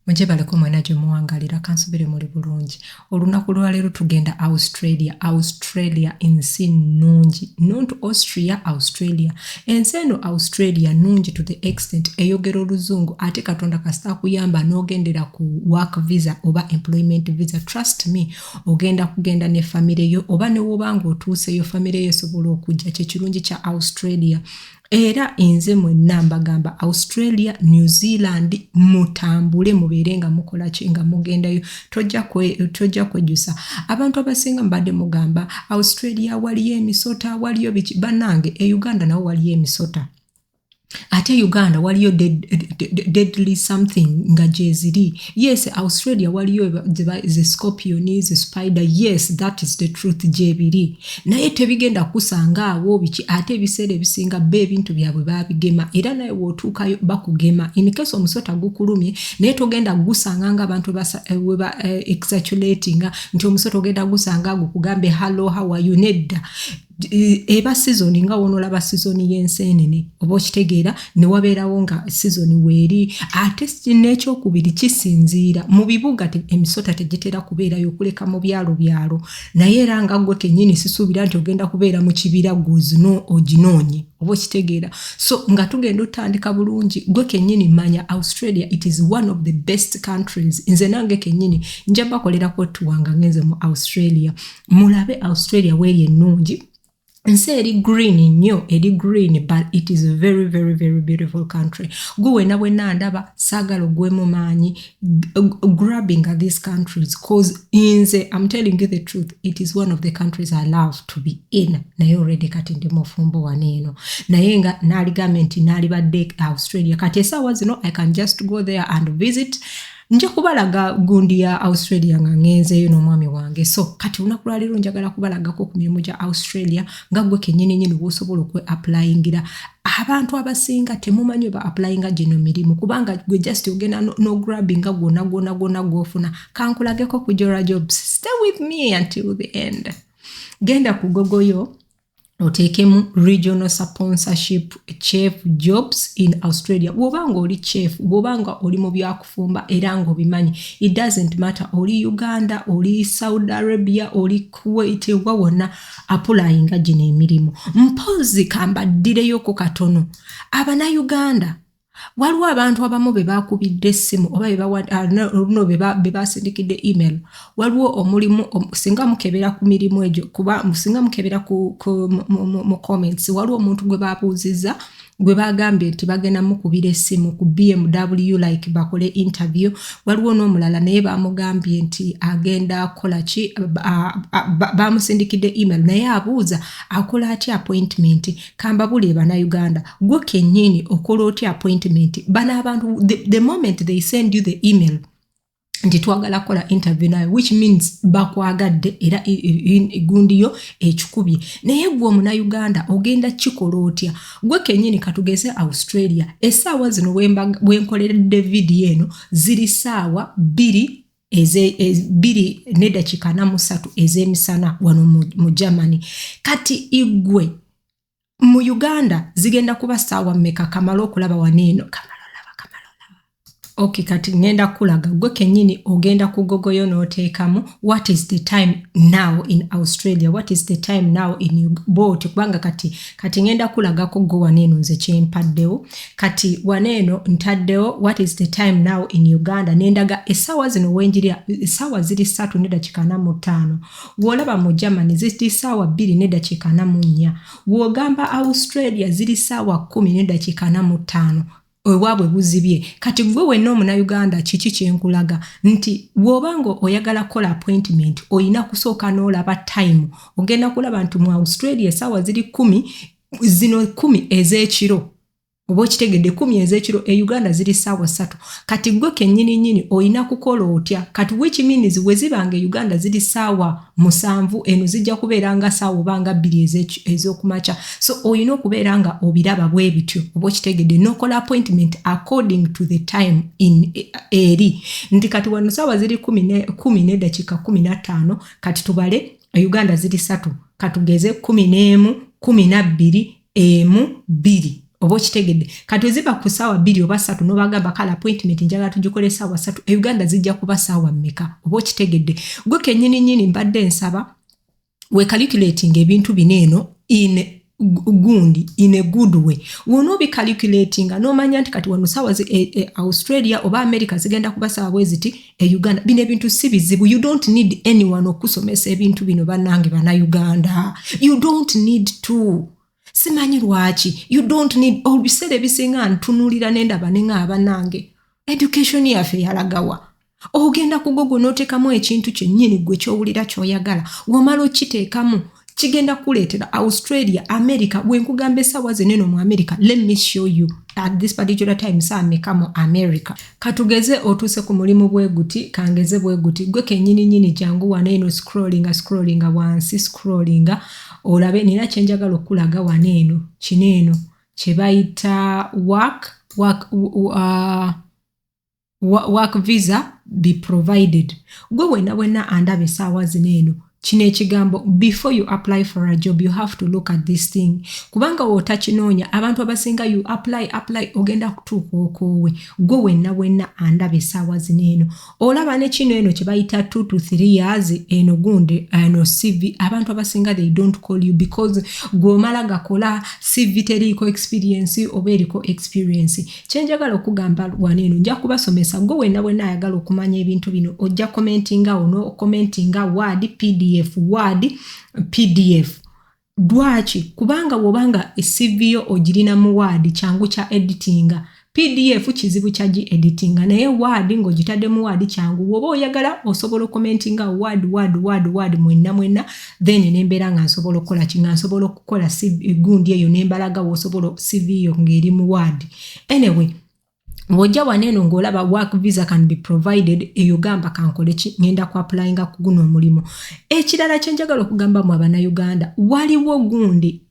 muje baleko mwena gye muwangalira kansubire muli bulungi olunaku lwaleero tugenda australia australia ensi nnungi nuntu austria australia ensi eno australia nnungi to the extent eyogera oluzungu ate katonda kasita akuyamba n'ogendera ku work visa oba employment visa trust me ogenda kugenda ne famire yo oba newoba nga otuuseyo famire yo esobola okujja kyekirungi kya australia era enze mwenna mbagamba australia new zealand mutambule mubeere nga mukola ki nga mugendayo tojja kwejjusa abantu abasinga mubadde mugamba australia waliyo emisota waliyo biki banange e uganda nawo waliyo emisota ate uganda waliyo deadly something nga gyeziri yes australia waliyo ze scorpion ze spider yes that is the truth gyebiri naye tebigenda kusanga awo biki ate ebiseera ebisinga ba ebintu byabwe babigema era naye wotuukayo bakugema incase omusota gukulumye naye togenda gusanga nga abantu weba eh, eh, exatulatinga nti omusota ogenda gusanga gukugambye hallo hawayu nedda e, eba sizoni nga wonolaba sizoni y'enseenene oba okitegeera ne wabeerawo nga sizoni weeri ate n'ekyokubiri kisinziira mu bibuga emisota tegitera kubeerayo kuleka mu byalo byalo naye era nga gwo kenyini sisuubira nti ogenda kubeera mu kibira gwozino oginoonye oba okitegeera so nga tugenda otandika bulungi gwe kenyini manya australia it is one of the best countries nze nange kenyini nja bakolerako tuwanga ngenze mu australia mulabe australia weeri ennungi nsi eri green nnyo eri green but it is a very very very beautiful country gwe wena wena ndaba saagala ogwemu maanyi grabbing at these countries cause inze im telling you the truth it is one of the countries i love to be in naye already kati ndi mufumbo wano eno naye nga naaligambe nti naalibadde australia kati esaawa zino i can just go there and visit uh, nja kubalaga gundi ya australia nga ngenzeeyo n'omwami wange so kati olunaku lwaleero njagala kubalagako ku mirimu gya australia nga gwe kenyini nyini bwosobola okwe applyingira abantu abasinga temumanyi oba applyinga gino mirimu kubanga gwe just ogenda nograbinga gwona gwona gwona gwofuna kankulageko ku jora jobs stay with me until the end genda ku gogoyo oteekemu regional sponsorship chef jobs in australia bwoba nga oli chef bwoba nga oli mu byakufumba era nga obimanyi it doesn't matter oli uganda oli saudi arabia oli kuwait wa wonna apulayinga gino emirimu mpozi kambaddire yoko katono abanauganda waliwo abantu abamu be bakubidde essimu oba oluno ah, be basindikidde email waliwo omulimu singa mukebera ku mirimu egyo kuba singa mukebera mu comments waliwo omuntu gwe babuuzizza gwe bagambye nti bagenda mukubira essimu ku bmw like bakole interview waliwo n'omulala naye bamugambye nti agenda akola ki bamusindikidde email naye abuuza akola atya appointment kambabulire banauganda gwe kenyini okola otya appointment bana abantu the, the moment they send you the email nti twagala kola interview nayo which means bakwagadde era gundi yo ekikubye naye gwe omunauganda ogenda kikola otya gwe kenyini katugeze australia esaawa zino bwenkoleredde vidiyo eno ziri saawa bbiri bbiri nedakiika namusatu ezemisana wano mu germany kati igwe mu uganda zigenda kuba saawa meka kamala okulaba waneeno ok kati ngenda kulaga gwe kenyini ogenda kugogoyo notekamu what is the time now in australia what is the time now in boot kubanga kati kati ngenda kulagako go wano eno nze kyempaddewo kati wano eno ntaddewo what is the time now in uganda nendaga esaawa zino wenjirya esaawa ziri satu nedakika na mutaano wolaba mu germany ziri saawa bbiri nedakika na munnya wogamba australia ziri saawa kumi nedakika na mutaano ewabwe buzibye kati gwe wenna omunauganda kiki kyenkulaga nti woba nga oyagala kola appointment oyina kusooka nolaba time ogenda kulaba nti mu australia esaawa ziri kumi zino kumi ezekiro oba okitegedde kumi ezekiro e uganda ziri saawa satu kati gwe kenyini nyini oyina kukola otya kati which means wezibanga e uganda ziri saawa musanvu eno zijja kubeera nga saawa oba nga bbiri ez'okumakya so olina okubeera nga obiraba bwe bityo oba okitegedde nokola appointment according to the time in e, eri nti kati wano saawa ziri kumi nedakiika kumi nattaano kati tubale e uganda ziri satu katugeze kumi n'emu kumi nabbiri emu bbiri oba okitegedde kati oziba ku saawa bbiri oba satu nobagamba kale appointment njagala tugikola esaawa satu e uganda zijja kuba saawa mmeka oba okitegedde gwe kenyini nyini mbadde nsaba wekalikulatinga ebintu bino eno in gundi in a good way wona obikalikulatinga nomanya nti kati wano saawa e, e, australia oba america zigenda kuba saawa bweziti e uganda bino ebintu si bizibu you don't need anyone okusomesa ebintu bino banange bana uganda you don't need to simanyi lwaki you don't need obiseera ebisinga ntunulira nendaba nenga abanange education yaffe yalagawa ogenda kugogo notekamu ekintu kyenyini gwe kyowulira kyoyagala wamala okiteekamu kigenda kukuleetera australia america bwenkugamba esaawa zeneno mu america let me show you at this particular time saameka mu america katugeze otuuse ku mulimu bweguti kangeze bweguti gwe kenyini nyini jangu wano eno scrollinga scrollinga wansi scrollinga olabe nina kyenjagala okukulaga wano eno kino eno kyebayita work work uh, work visa be provided gwe wena wena andaba esaawa zino eno kino ekigambo before you apply for a job you have to look at this thing kubanga wotakinoonya abantu abasinga you apply apply ogenda kutuuka okoowe gwe wenna wenna andaba esaawa zino eno olaba ne kino eno kye bayita 2 to 3 years eno gunde eno cv abantu abasinga they don't call you because gweomala gakola cv teriiko experience oba eriko experience kyenjagala okugamba wano eno nja kubasomesa gwe wena wena ayagala okumanya ebintu bino ojja commentinga wo nokomentinga word pdf word pdf lwaki kubanga wobanga esiviyo ogirina mu word kyangu kya editinga pdf kizibu kya gi editinga naye word ngogitadde mu word kyangu woba oyagala osobola okomentinga word word word word mwena mwena then nembeera nga nsobola okukola ki nga nsobola okukola gundi eyo nembalaga wosobola cv yo ngaeri mu ward anyway ng'ojja wano eno ng'olaba work visa can be provided eyo gamba kankole ki ngenda ku applyinga ku guno omulimu ekirala kyenjagala okugamba mu abanauganda waliwo gundi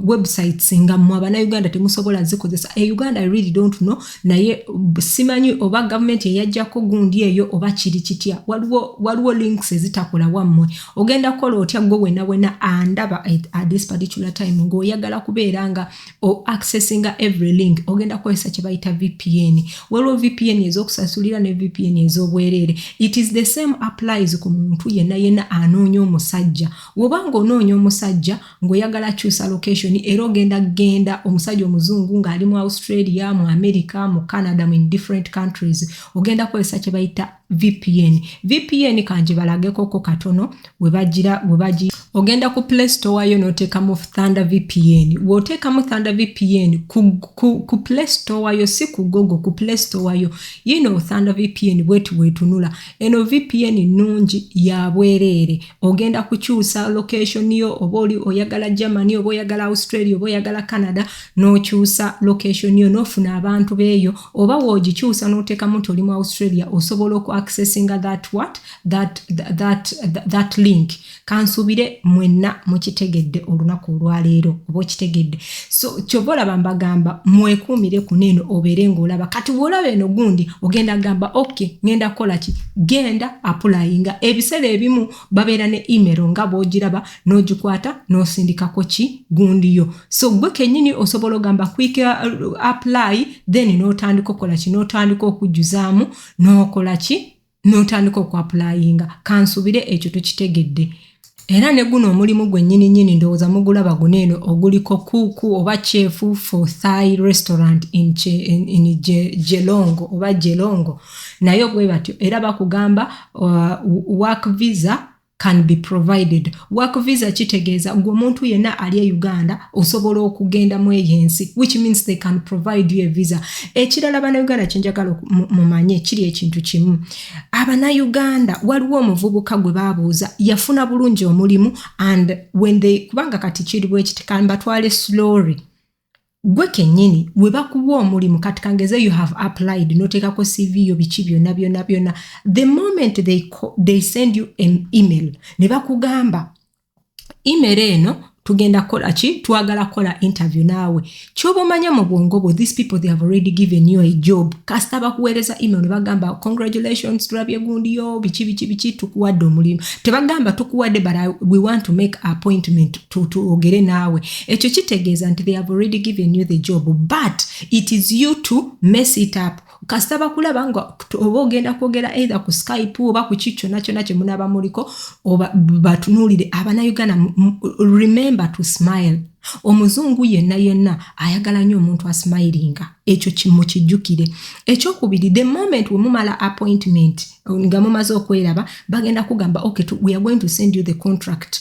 websites nga mwe abanauganda temusobola zikozesa e uganda i really don't know naye simanyi oba gavumenti eyajjako gundi eyo oba kiri kitya waliwo waliwo links ezitakola wammwe ogenda kukola otya gwe wena wena andaba at this particular time ng'oyagala kubeera nga o accessinga every link ogenda kukozesa kye bayita vpn waliwo vpn ez'okusasulira ne vpn ez'obwereere it is the same applies ku muntu yenna yenna anoonya omusajja woba ng'onoonya omusajja ng'oyagala akyusa location era ogenda genda omusajja omuzungu ng'ali mu australia mu america mu canada mu in different countries ogenda kukozesa kye bayita vpn vpn kangibalagekoko katono webagira webagi ogenda ku play store yo n'oteekamu thunder vpn w'oteekamu thunder vpn ku, ku, ku play store yo si ku gogo ku play store yo yino thunder vpn bweti wetunula eno vpn nnungi ya bwereere ogenda kukyusa location yo oba oli oyagala germany oba oyagala australia oba oyagala canada nokyusa location yo nofuna abantu beeyo oba wogikyusa notekamu nti oli mu australia osobola oku accessinga that what that, that, that, that link kansuubire mwenna mukitegedde olunaku olwaleero oba okitegedde so kyova olaba mbagamba mwekuumire kuno eno obeere ngaolaba kati bwolaba eno gundi ogenda gamba ok ngenda kukolaki genda apulayinga ebiseera ebimu babeera ne email nga bwogiraba n'ogikwata n'osindikako ki gundi yo so gwe kenyini osobola ogamba quick uh, apply then n'otandika okukola ki n'otandika okujjuzaamu n'okola ki n'otandika okwapulayinga kansubire ekyo tukitegedde era ne guno omulimu gwennyini nnyini ndowooza mugulaba guno eno oguliko kuuku oba kyefu for thai restaurant in, in, in je, jelongo oba jelongo naye bwe batyo era bakugamba uh, work visa can be provided work visa kitegeeza gwe omuntu yenna ali e uganda osobola okugenda mu eyo ensi which means they can provide you a visa ekirala banauganda kyenjagala mumanye kiri ekintu kimu abanauganda waliwo omuvubuka gwe babuuza yafuna bulungi omulimu and when they kubanga kati kiri bwekiti kambatwale slory gwe kenyini webakuwa omulimu kati kangeze you have applied notekako cv yo biki byona byona byona the moment they, call, they send you an email ne bakugamba email eno tugenda kola ki twagala kola interview naawe kyoba omanya mu bwongo bwo these people they have already given you a job kasita bakuweereza email ne bagamba congratulations tulabye gundi yo biki biki biki tukuwadde omulimu tebagamba tukuwadde but I, we want to make appointment twogere naawe ekyo kitegeeza nti they have already given you the job but it is you to mess it up kasita bakulaba nga oba ogenda kwogera either ku skype oba ku ki kyona kyona kyemunaba muliko oba batunuulire abana uganda remember to smile omuzungu yenna yenna ayagala nnyo omuntu asmilinga ekyo kimukijjukire ekyokubiri the moment wemumala appointment nga mumaze okweraba bagenda kugamba okay we are going to send you the contract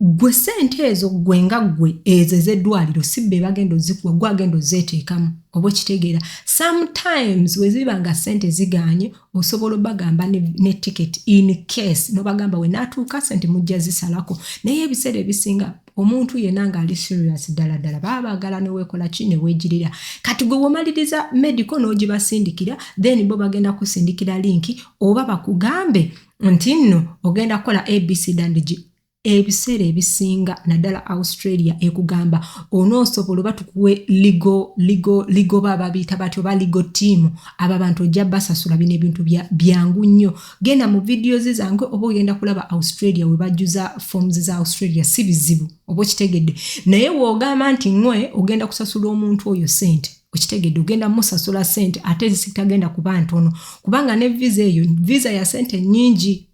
gwe sente ezo gwe nga gwe ezo ezeddwaliro si be bagenda ozikuwa gwe agenda ozeeteekamu oba okitegeera sometimes weziba nga sente ziganye osobola obagamba ne, ne ticket in case nobagamba wenaatuuka sente mujja zisalako naye ebiseera ebisinga omuntu yena ngaali serious ddala ddala baba bagala newekola ki newegirira kati gwe womaliriza medical n'ogibasindikira then bo bagenda kusindikira linki oba bakugambe nti nno ogenda kukola abc dandigi ebiseera ebisinga naddala australia ekugamba onoosobola oba tukuwe ligo ligo ligo ba babiita bati oba ligo tiimu abo abantu ojja basasula bino ebintu byangu nnyo genda mu videos zange oba ogenda kulaba australia we bajjuza forms za australia si bizibu oba okitegedde naye woogamba nti ŋwe ogenda kusasula omuntu oyo sente okitegedde ogenda musasula sente ate zisitagenda kuba ntono kubanga ne visa eyo visa ya sente nyingi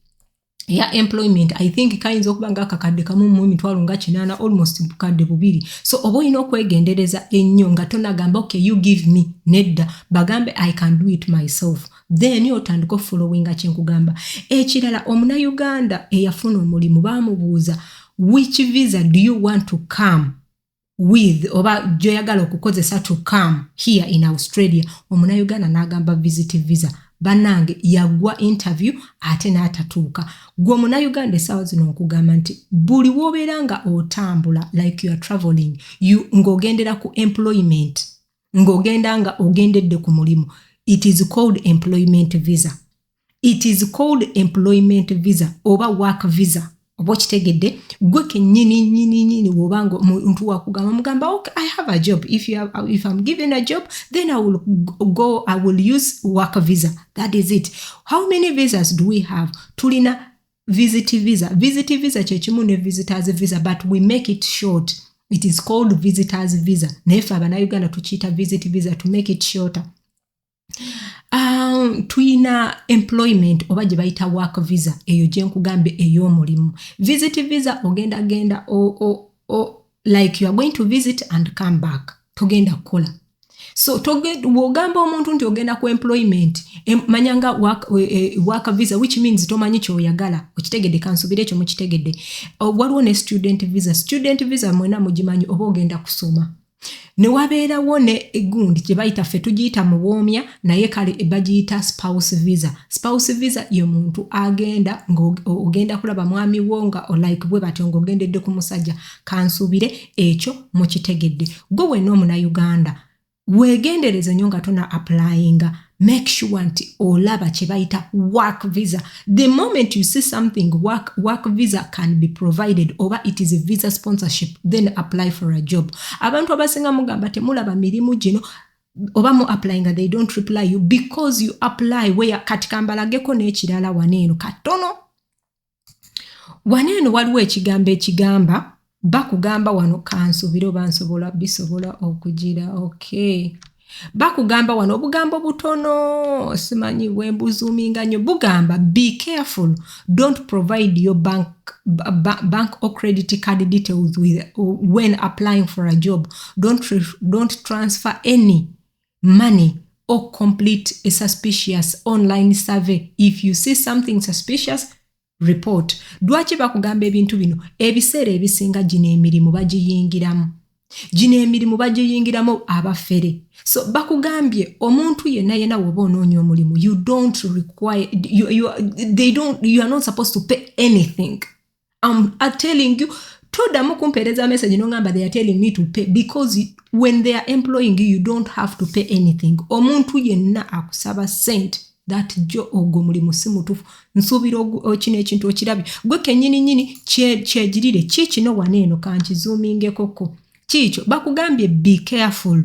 eya employment i think kayinza okuba nga akakadde kamu mu emitwalo nga kinaana almost bukadde bubiri so oba olina okwegendereza ennyo nga tonagamba ok you give me nedda bagambe i can do it myself then otandika ofolowinga kyenkugamba ekirala omunauganda eyafuna omulimu bamubuuza which visa do you want to come with oba gyoyagala okukozesa to come here in australia omunauganda n'agamba visit visa banange yagwa interview ate n'atatuuka gwe omunauganda esaawa zino nkugamba nti buli wobeera nga otambula like youare traveling you ng'ogendera ku employment ng'ogenda nga ogendedde ku mulimu it is called employment visa it is called employment visa oba work visa oba okitegedde gwe kenyini nyini nyini woba nga omuntu wakugamba mugamba ok i have a job if, you have, if i'm given a job then i will go i will use work visa that is it how many visas do we have tulina visit visa visit visa kyekimu ne visitors visa but we make it short it is called visitors visa naye fe abanauganda tukiyita visit visa to make it shorter Um, tuyina employment oba gye bayita work visa eyo gye nkugambye ey'omulimu visit visa ogenda genda o, o, o, like you are going to visit and come back togenda kukola so bwogamba omuntu nti ogenda ku employment manya nga work e, e, visa which means tomanyi kyoyagala okitegedde kansubire ekyo mukitegedde waliwo ne student visa student visa mwena mugimanyi oba ogenda kusoma ne wabeerawo ne egundi gye bayita ffe tugiyita muwoomya naye kale bagiyita spouse visa spouse visa ye muntu agenda ng'ogenda kulaba mwami wo nga olike bwe batyo ng'ogendedde ku musajja kansuubire ekyo mukitegedde gwe wenna omunauganda weegendereze nnyo nga tuna apulaayinga make sure nti olaba kyebayita work visa the moment you see something work, work visa can be provided oba it is a visa sponsorship then apply for a job abantu abasinga mugamba temulaba mirimu gino oba mu apply nga they don't reply you because you apply where kati kambalageko n'ekirala wano eno katono wano eno waliwo ekigambo ekigamba bakugamba wano kansubire oba nsobola bisobola okugira okay bakugamba wano obugambo butono simanyi wembuzuminga nyo bugamba be careful don't provide your bank, ba, bank or credit card details with, when applying for a job don't, don't transfer any money or complete a suspicious online survey if you see something suspicious report lwaki bakugamba ebintu bino ebiseera ebisinga gino emirimu bagiyingiramu gino emirimu bagiyingiramu abafere so bakugambye omuntu yena yena woba onoonya omulimu you don't require you, you, they don't, you are not supposed to pay anything I'm, I'm telling you todamu kumpeereza message nongamba they are telling me to pay because when they are employing you you don't have to pay anything omuntu yenna akusaba sente that jo ogwo mulimu si mutufu nsuubira kino ekintu okirabye gwe kenyini nyini kyegirire kiikino wana eno kankizumingekoko kiikyo bakugambye be careful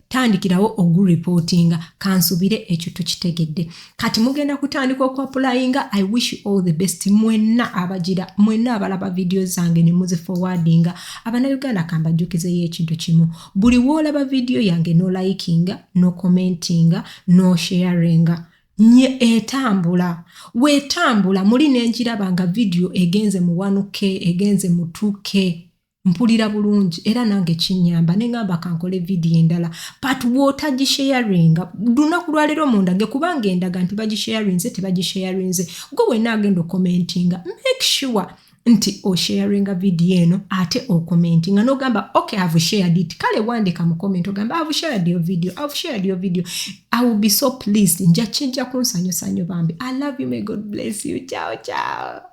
tandikirawo oguripootinga kansubire ekyo tukitegedde kati mugenda kutandika okuapulayinga i wish all the best mwenna abagira mwenna abalaba vidiyo zange ne muzifowadinga abanauganda kambajjukizeyo ekintu kimu buli woolaba vidiyo yange nolayikinga nokomentinga nosheyaringa no nye etambula wetambula muli nenjiraba nga vidiyo egenze mu 1k egenze mu 2k mpulira bulungi era nange kinyamba neŋamba kankole vidiyo endala but wotagisharinga lunaku lwaleero mundage kubanga endaga nti bagisharinze tebagisharinze gwe wena agenda okomentinga make sure nti osharinga vidiyo eno ate okomentinga nogamba ok have shared it kale wandika mu comment ogamba have shared your video have shared your video i will be so pleased nja kijja kunsanyusanyo bambi i love you may god bless you ciao ciao